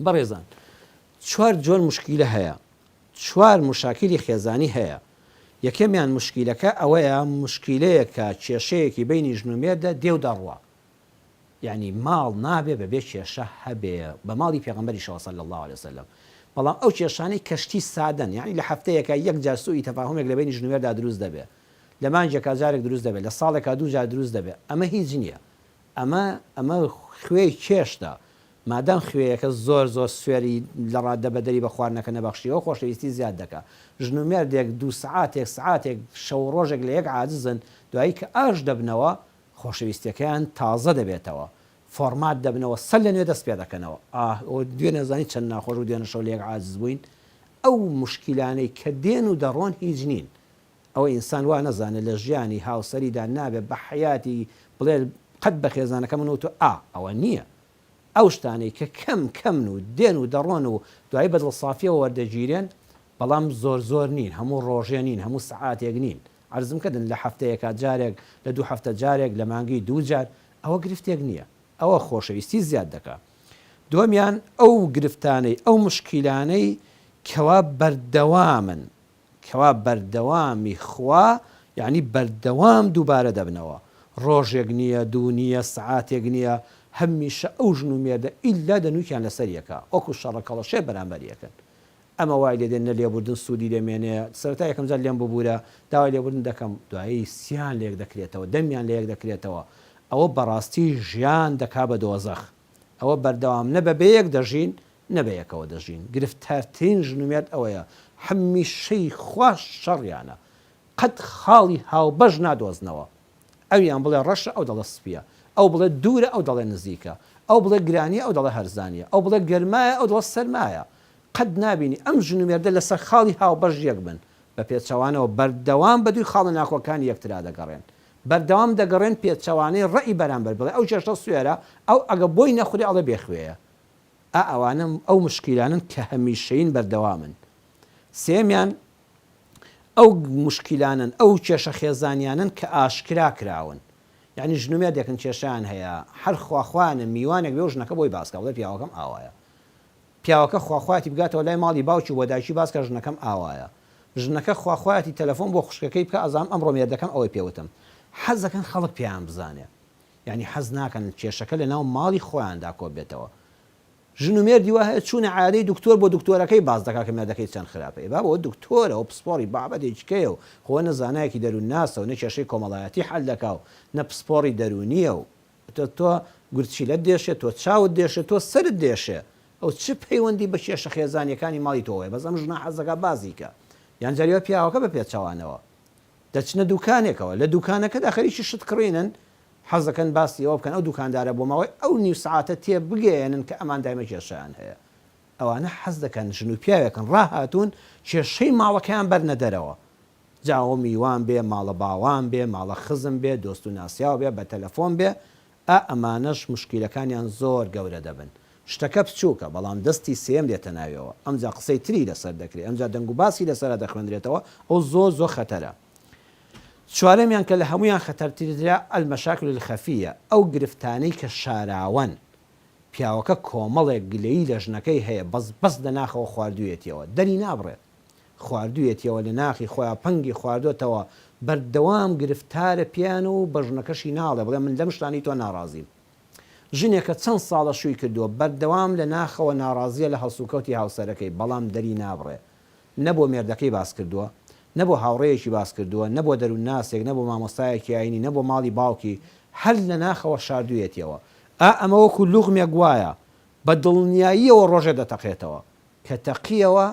بەڕێزان چوار جۆر موشکیلە هەیە چوار موشاکیلی خێزانی هەیە یەکەمیان موشکیلەکە ئەوەیە موشکیلەیەکە کێشەیەکی بینی ژن و مێردە دێ و دەڕوا یعنی ماڵ نابێ بەبێ کێشە هەبێ بە ماڵی پێغمبەری شەوە صلی الله عليه وسلم بەڵام ئەو کێشانەی کەشتی سادەن یعنی لە هەفتەیەکە یەک جار سوئی تەفاهمێک لە بینی ژن و مێردا دروست دەبێ لە مانگێکا جارێک دروست دەبێ لە ساڵێکا دوو جار دروست دەبێ ئەمە هیچ نییە ئەمە ئەمە خوێی چێشتە. مادام خوێیەکە زۆر زۆر سوێری لە ڕاددە بەدەری بە خواردنەکە نەبەخشیوە خۆشەویستی زیاد دەکا. ژن و مێردێک دوو سەعاتێک سەعاتێک شەو و ڕۆژێک لە یەک عاجزن دوایی کە ئاش دەبنەوە خۆشەویستیەکەیان تازە دەبێتەوە فۆڕمات دەبنەوە سەر لە نوێ دەست پێ دەکەنەوە ئاه ئۆ دوێنێ زانی چەند ناخۆش بوو دوێنێ شەو لە یەک عاجز بووین ئەو موشکیلانەی کە دێن و دەڕۆن هیچ نین ئەوەی ئینسان وا نەزانێت لە ژیانی هاوسەریدا نابێت بە حەیاتی بڵێت قەت بە خێزانەکە من و تۆ ئا ئەوە نییە ئەو شتانەی کە کەم کەمن و دێن و دەڕۆن و دوایی بە دڵسافیەوە وەردەگیرێن بەڵام زۆر زۆر نین هەموو ڕۆژێ نین هەموو سەعاتێک نین عەرزم کردن لە حەفتەیەکا جارێک لە دوو حەفتە جارێک لە مانگی دوو جار ئەوە گرفتێک نییە ئەوە خۆشەویستی زیاد دەکا دووەمیان ئەو گرفتانەی ئەو مشکیلانەی کەوا بەردەوامن کوا بەردەوامی خوا یانی بەردەوام دووبارە دەبنەوە ڕۆژێک نیە دوو نیە سەعاتێک نیە هەمیشە ئەو ژن و مێردە ئیلا دەنوکیان لەسەر یەکە وەکو شەڕە کەڵەشێر بەرامبەر یەکن ئەمە وای لێ دێ نە لێبوردن سودی لێ مێنێ سەرەتا یەکەم جار لێم ببورە داوای لێبوردن دەکەم دوایی سیان لە یەک دەکرێتەوە دەمیان لە یەک دەکرێتەوە ئەوە بەڕاستی ژیان دەکا بە دۆزەخ ئەوە بەردەوام نە بەبێ یەک دەژین نە بەیەکەوە دەژین گرفتارترین ژنومێرد ئەوەیە هەمیشەی خوا شەڕیانە قەت خاڵی هاوبەش نادۆزنەوە ئەویان بڵێ ڕەشە ئەو دەڵێ سپیە ئەو بڵێ دوورە ئەو دەڵێ نزیکە ئەو بڵێ گرانیە ئەو دەڵێ هەرزانیە ئەو بڵێ گەرمایە ئەو دڵێ سەرمایە قەت نابینی ئەم ژنومێردە لەسەر خاڵی هاوبەش یەک بن بە پێچەوانەوە بەردەوام بە دووی خاڵە ناکۆکانی یەکترا دەگەڕێن بەردەوام دەگەڕێن پێچەوانەی ڕەئی بەرامبەر بڵێ ئەو چێشتە سوێرە ئەو ئەگە بۆی نەخورێ ئەڵێ بێ خوێیە ئا ئەوانە ئەو موشکیلانەن کە هەمیشەیین بەردەوامن. سێیەمیان ئەو موشکیلانەن ئەو کێشە خێزانیانەن کە ئاشکرا کراون یانی ژن و مێردێکن کێشەیان هەیە هەر خوا خوایانە میوانێک بێ و ژنەکە بۆی باس کە بڵێ پیاوەکەم ئاوایە پیاوەکە خوا خوایەتی بگاتەوە لای ماڵی باوکی و بۆ دایکی باس کە ژنەکەم ئاوایە ژنەکە خوا خوایەتی تەلەفۆن بۆ خوشکەکەی بکا ئەزانم ئەمڕۆ مێردەکەم ئەوەی پێ وتم حەز دەکەن خەڵک پێیان بزانێ یانی حەز ناکەن کێشەکە لە ناو ماڵی خۆیاندا کۆببێتەوە. ژن و مێردی وا هەیە چوونە عەیادەی دکتۆر بۆ دکتۆرەکەی باس دەکات کە مێردەکەی چەند خراپە. ئێ بابە ئەوە دکتۆرە ئەو پسپۆڕی بابەتێکیکەیە و خۆ نە زانایەکی دەروونناسە و نە کێشەی کۆمەڵایەتی حەل دەکا و نە پسپۆڕی دەروونییە و ئیتر تۆ گورچیلەت دێشێ تۆ چاوت دێشێ تۆ سەرت دێشێ ئەو چ پەیوەندی بە کێشە خێزانییەکانی ماڵی تۆوەیە بەس ئەم ژنە حەز دەکا بازی کا یان جاری وا پیاوەکە بە پێچەوانەوە دەچنە دوکانێکەوە لە دوکانەکەدا خەریکی شت کڕینن، حەز دەکەن باسی ئەوە بکەن ئەو دوکاندارە بۆ ماوەی ئەو نیو سەعاتە تێبگەیەنن کە ئەمان دایمە کێشەیان هەیە. ئەوانە حەز دەکەن ژن و پیاوێکن ڕاهاتوون کێشەی ماڵەکەیان بەرنە دەرەوە، جا ئەوە میوان بێ، ماڵە باوان بێ، ماڵە خزم بێ، دۆست و ناسیاو بێ، بە تەلەفۆن بێ، ئا ئەمانەش موشکیلەکانیان زۆر گەورە دەبن. شتەکە بچووکە، بەڵام دەستی سێیەم دێتە ناویەوە، ئەمجا قسەی تری لەسەر دەکرێ، ئەمجا دەنگوباسی لەسەرا دەخوێندرێتەوە، ئەو زۆر زۆر خەتەرە. چوارەمیان کە لە هەموویان خەتەرترە، المشاکل الخفیە، ئەو گرفتانەی کە شاراوەن. پیاوەکە کۆمەڵێک گلەیی لە ژنەکەی هەیە، بەس بەس لە ناخەوە خواردوویەتیەوە، دەری نابڕێت. خواردویەتیەوە لە ناخی خۆیا پەنگی خواردۆتەوە بەردەوام گرفتارە پێیان و بە ژنەکەشی ناڵێ بڵێ من لەم شتانەی تۆ ناڕازیم ژنێکە چەند ساڵە شوی کردوە بەردەوام لە ناخەوە ناڕازیە لە هەڵسوکەوتی هاوسەرەکەی بەڵام دەری نابڕێ نە بۆ مێردەکەی باس کردوە نە بۆ هاوڕێیەکی باس کردوە نە بۆ دەرون ناسێک نە بۆ مامۆستایەکی ئاینی نە بۆ ماڵی باوکی هەر لە ناخەوە شاردویەتیەوە ئا ئەمە وەکو لوغمێک وایە بە دڵنیاییەوە ڕۆژێ دەتەقێتەوە کە تەقیەوە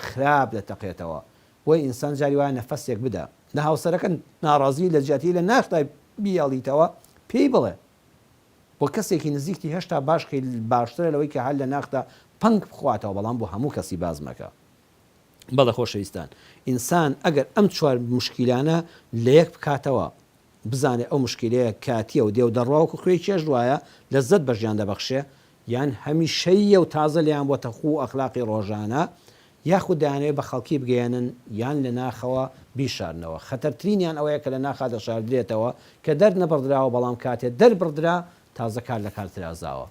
خراپ دەتەقێتەوە بۆیە ئینسان جاری وایە نەفەسێک بدە نە هاوسەرەکە ناڕازی لە جیاتی لە ناختا بیاڵیتەوە پێی بڵێ بۆ کەسێکی نزیکتی هێشتا باش کەی باشترە لەوەی کە هەر لە ناختا پەنگ بخواتەوە بەڵام بۆ هەموو کەسی باس مەکە. بەڵێ خۆشەویستان ئینسان ئەگەر ئەم چوار موشکیلانە لە یەک بکاتەوە بزانێ ئەو موشکیلەیە کاتیە و دێ و دەڕوا وەکو خوێی چێژ وایە لەززەت بە ژیان دەبەخشێ یان هەمیشەییە و تازە لێیان بۆتە خوو و ئەخلاقی ڕۆژانە، یاخود دەیانەوێت بە خەڵکی بگەیەنن یان لە ناخەوە بیشارنەوە، خەتەرترینیان ئەوەیە کە لە ناخا دەشاردرێتەوە، کە دەرنەبڕدراوە بەڵام کاتێ دەربڕدرا تازە کار لە کار ترازاوە.